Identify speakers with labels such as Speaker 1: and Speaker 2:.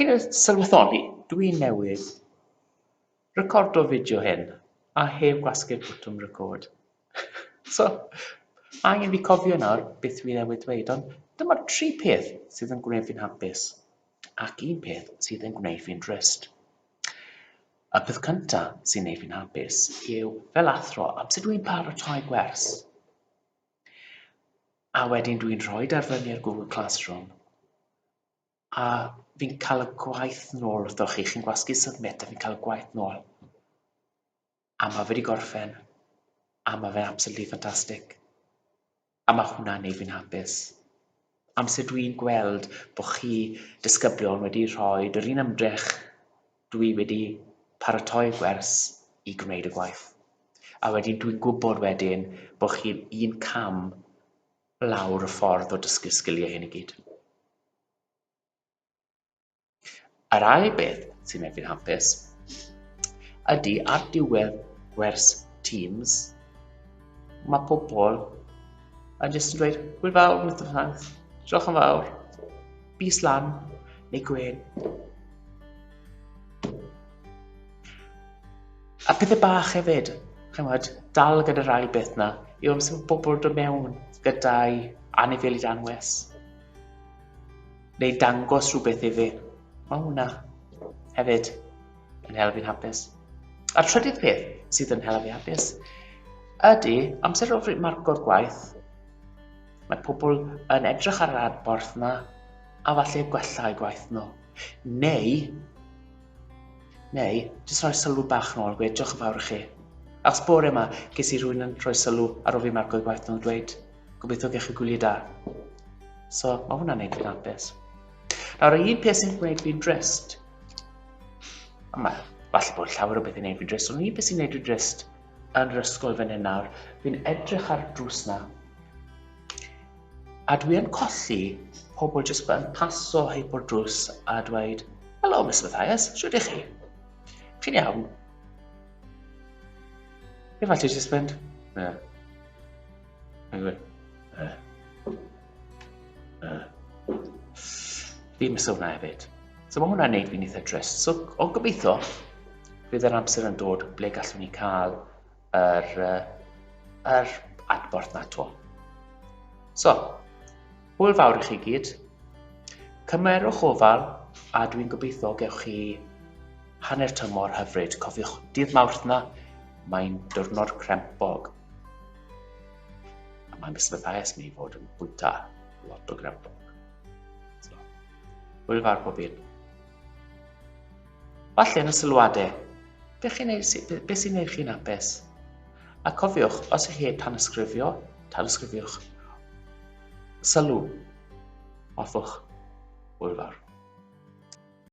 Speaker 1: Chi'n sylweddoli, dwi newydd recordo'r fideo hyn a heb gwasgu'r botwm record. so, mae angen fi cofio nawr beth dwi newydd dweud, ond dyma'r tri peth sydd yn gwneud fi'n hapus, ac un peth sydd yn gwneud fi'n drist. Y peth cyntaf sy'n neud fi'n hapus yw fel athro amser dwi'n paratoi gwers. A wedyn dwi'n rhoi e ar fyny ar Google Classroom, a fi'n cael y gwaith nôl wrthoch chi, chi'n gwasgu submit a fi'n cael y gwaith nôl. A mae fe wedi gorffen, a mae fe'n absolutely fantastic. A mae hwnna'n neud fi'n hapus. amser dwi'n gweld bod chi disgyblion wedi rhoi yr un ymdrech dwi wedi paratoi gwers i gwneud y gwaith. A wedyn dwi'n gwybod wedyn bod chi'n un cam lawr y ffordd o dysgu'r sgiliau hyn i gyd. Yr ail beth sy'n neud fi'n hapus ydy ar diwedd gwers Teams, mae pobl yn jyst yn dweud, hwyl fawr, Mr Ffans, diolch yn fawr, bus lan, neu gwen. A pethau bach hefyd, chymod, dal gyda'r ail beth na, yw amser bod pobl dod mewn gyda'i anifeiliaid anwes. Neu dangos rhywbeth i fi. Mae hwnna hefyd yn helpu'n hapus. A trydydd peth sydd yn helpu hapus ydy amser o fryd marco'r gwaith. Mae pobl yn edrych ar yr adborth yna a falle gwella eu gwaith nhw. Neu, neu, jyst rhoi sylw bach nôl, gweud diolch yn fawr i chi. Achos bore yma, ges i rhywun yn rhoi sylw ar ôl fi marco'r gwaith nhw'n dweud, Gobeithio gech chi gwyliau da. So, mae hwnna'n neud yn hapus. Nawr, y un peth sy'n gwneud fi'n drist, a mae falle bod llawer o beth yn neud fi'n drist, ond y un peth sy'n neud fi'n drist yn yr ysgol fan hyn nawr, fi'n edrych ar drws na, a dwi yn colli pobl jyst yn paso heb o'r drws a dweud, Helo, Miss Mathias, siwr ydych chi? Chi'n iawn? Efallai jyst fynd, yeah. Anyway. Uh. Uh. Fi'n mis hwnna hefyd. So mae hwnna'n neud fi'n eitha trist. So o gobeithio, bydd yr amser yn dod ble gallwn ni cael yr, uh, yr adborth na to. So, hwyl fawr i chi gyd. Cymerwch ofal a dwi'n gobeithio gewch chi hanner tymor hyfryd. Cofiwch, dydd mawrth na, mae'n diwrnod crempog. A mae'n bysbyddais mi fod yn bwyta lot o ground dog. So, hwyl fawr pob un. Falle yn y sylwadau, beth sy'n ei chi'n apus? A cofiwch, os ych chi heb tanysgrifio, tanysgrifiwch. Sylw. Hoffwch. Hwyl fawr.